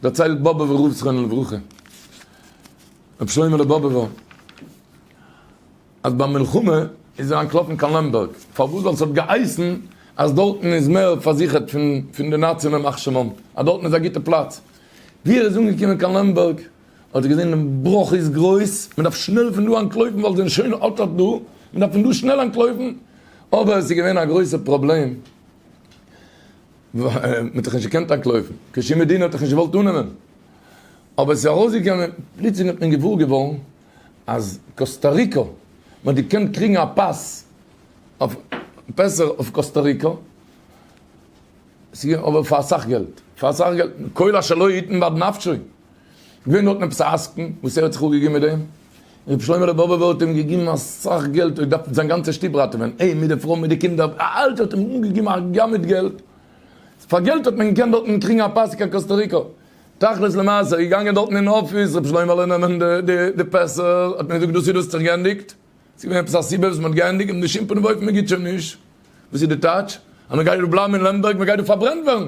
דערציילט באבעווע רב זכרונו לברכה, רבי שלמה'לע באבעווע, אז ביי מלחמה איז ער אנטלאפן קיין לעמבערג, פארוואס? ווייל ס'האט געהייסן אז דארטן איז מער פארזיכערט פון די נאצי'ן ימח שמם, אז דארטן איז א גוטע פלאץ. ווי ער איז אנגעקומען קיין לעמבערג, האט ער געזען דעם בראך איז גרויס, מען דארף שנעל פון דא אנטלויפן ווייל ס'זענען שוין אט אט דא, מען דארף פון דא שנעל אנטלויפן, אבער עס איז געווען א גרויסע פראבלעם, מען האט דאך נישט געקענט אנקלויבן, קיין שום מדינה האט דאך נישט געוואלט אננעמען, אבער עס איז ארויסגעקומען, פלוצלינג האט מען געוואר געווארן אז קאסטא ריקא, מען האט געקענט קריגן א פאס אויף פעסער אויף קאסטא ריקא, אבער פאר אסאך געלט, פאר אסאך געלט, כל אשר לא יתן ועד נפשו. געווען דארטן עפעס א עסקן וואס ער האט זיך אפגעגעבן מיט דעם רבי שלמה לבובובער האט אים געגעבן אסאך געלט ער האט געדארפט זיין גאנצע שטוב ראטעווען אים מיט די פרוי מיט די קינדער אלץ האט אים אנגעגעבן א גמד געלט פאר געלט האט מען געקענט דארטן קריגן א פאס קיין קאסטא ריקא תכלית למעשה ער איז געגאנגען דארטן אין אפיס רבי שלוימעלע נעמען די פעסער האט מען געזאגט דאס איז דאס האט זיך גענדיגט ס'איז געווען עפעס א סיבה וואס מ'האט גענדיגט און בשום פנים ואופן מ'גיט שוין נישט וואס איז די טייטש אז מ'גייט דא בלייבן אין לעמבערג מ'גייט דא פארברענט ווערן.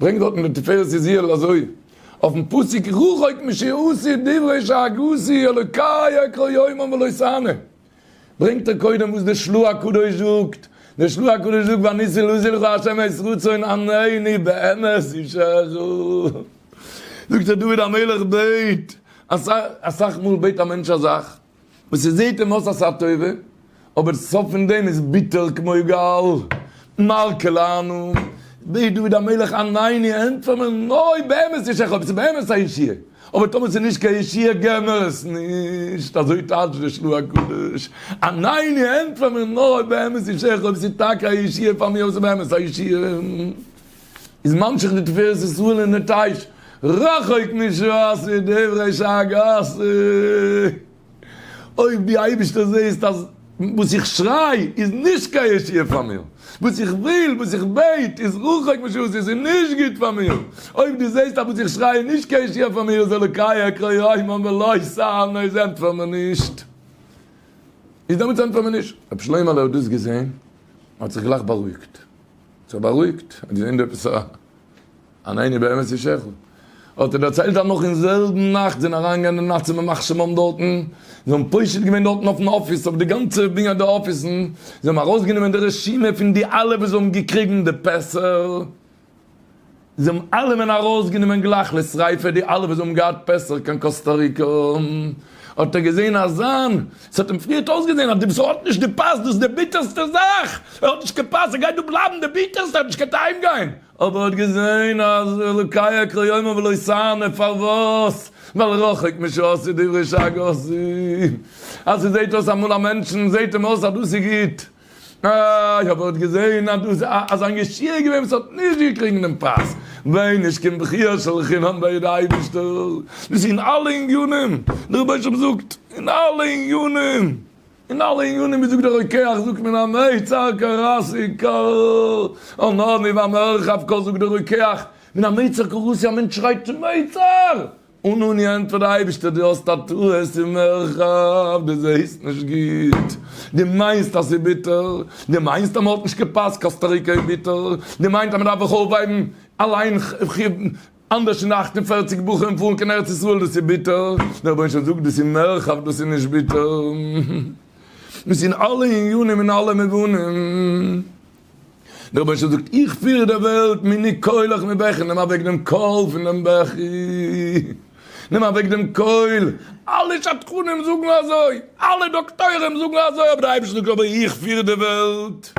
ברענגט דארטן דער תפארת זי ע אזוי אויפן פסוק רחוק משעשי דברי שאגתי אלוקי אקרא יומם ולא אשנה, ברענגט ער קודם וואס דער שלו' הקדוש זאגט, דער שלו' הקדוש זאגט ואניסי לוזי לך השם את רצון עניני באמת אישך, זאגט ער דוד המלך בעט אסאך מאל בעט א מענטש א זאך, וואס עס זעהט אים אויס א שעה טובה, אבער סוף פון דעם איז ביטער כמו גל, מר כולנו, בעט דוד המלך עניני ענטפער מיר נאר אויב באמת יש לך, אויב ס'איז באמת א ישועה, אבער טאמער ס'איז נישט קיין ישועה געב מיר עס נישט, אזוי טייטש דער שלו ה קדוש, עניני ענטפער מיר נאר אויב באמת יש לך, אויב ס'איז טאקע א ישועה פאר מיר, אויב ס'איז באמת א ישועה. איז ממשיך די תפארת ישראל אין די טייטש רחוק משעות ודברי שגעת אויב דו אייבערשטער זעסט אז וואס איך שריי איז נישט קיין ישועה פאר מיר, וואס איך וויל, וואס איך בעט איז רחוק משעות עס איז נישט גוט פאר מיר, אויב דו זעסט אז וואס איך שריי איז נישט קיין ישועה פאר מיר איז אלוקי אקרא יומם ולא אשאנו איז ענטפער מיר נישט, איז דעמאלטס ענטפער מיר נישט. רבי שלמה'לע האט דאס געזען און האט זיך גלייך בארואיגט. זיך בארואיגט, האט געזען דא עפעס א אן עיני באמת איש אחד, האט ער דערציילט אז נאך אין זעלבן נאכט זענען אריינגעגאנגען די נאצים מיט מחשב האבן דארטן, זיי האבן פושט געווען דארטן אויפן אפיס, אויף די גאנצע בנין די אפיסן, זיי האבן ארויסגענומען די רשימה פון די אלע וואס זיי האבן געקריגן די פעסער, זיי האבן אלעמען ארויסגענומען גלייך לשריפה, די אלע וואס האבן געהאט פסח קיין קאסטא ריקא, האט ער געזען אז זיין, ס'האט אים פריערט אויסגעזען אז די וואס האט נישט די פאס, דאס איז די ביטערסטע זאך, ער האט נישט קיין פאס, ער גייט דא בלייבן די ביטערסטע, ער האט נישט געהאט אהיים גיין, אבער ער האט געזען אז לוקי אקרא יומא ולא יסרנה, פארוואס? ווייל רחוק משעה עשו דברי שגץ, אז ס'זעט אויס אמאל א מענטשן זעט אים אויס אז דאס איז גוט, אה, איך האב אויך געזעהן אז דא איז א אזא ישיר געווען וואס האט נישט געקריגן דעם פרס, ועונש קומט בכי' של חינם בידי אייבישטער, דאס אין אלע עניינים, דער רבש ע זאגט, אין אלע עניינים, אין אלע עניינים ווי זאגט דער רוקח זאגט מען א מיצר קראסי ק, אן עני ואן ערחב ק זאגט דער רוקח, מן המיצר קראסי א מענטש שרייט צום מיצר! און אני ענטפער אייבערשטער דו האסט א טעות אין מרחב, דו זעהסט נישט גוט, דו מיינסט אז ס'איז ביטער, דו מיינסט אז מען האט נישט געפאסט קאסטא ריקא איז ביטער, דו מיינסט אז מען דארף זיך אויפהייבן אליין אנדערש פון די אַכט און פֿערציק בחורים און פארן קיין ארץ ישראל דאס איז ביטער, דער רבונו זאגט דאס איז מרחב דאס איז נישט ביטער, דאס איז אין אלע עניינים אין אלע מובנים. דער רבש ע זאגט, איך פיר די וועלט מני קולך מבכי, נעם אוועק דעם קול פון דעם בכי, נעם אוועק דעם קול, אלע שדכנים זאגן אזוי, אלע דאקטוירים זאגן אזוי, אבער דער אייבערשטער זאגט, אבער איך פיר די וועלט.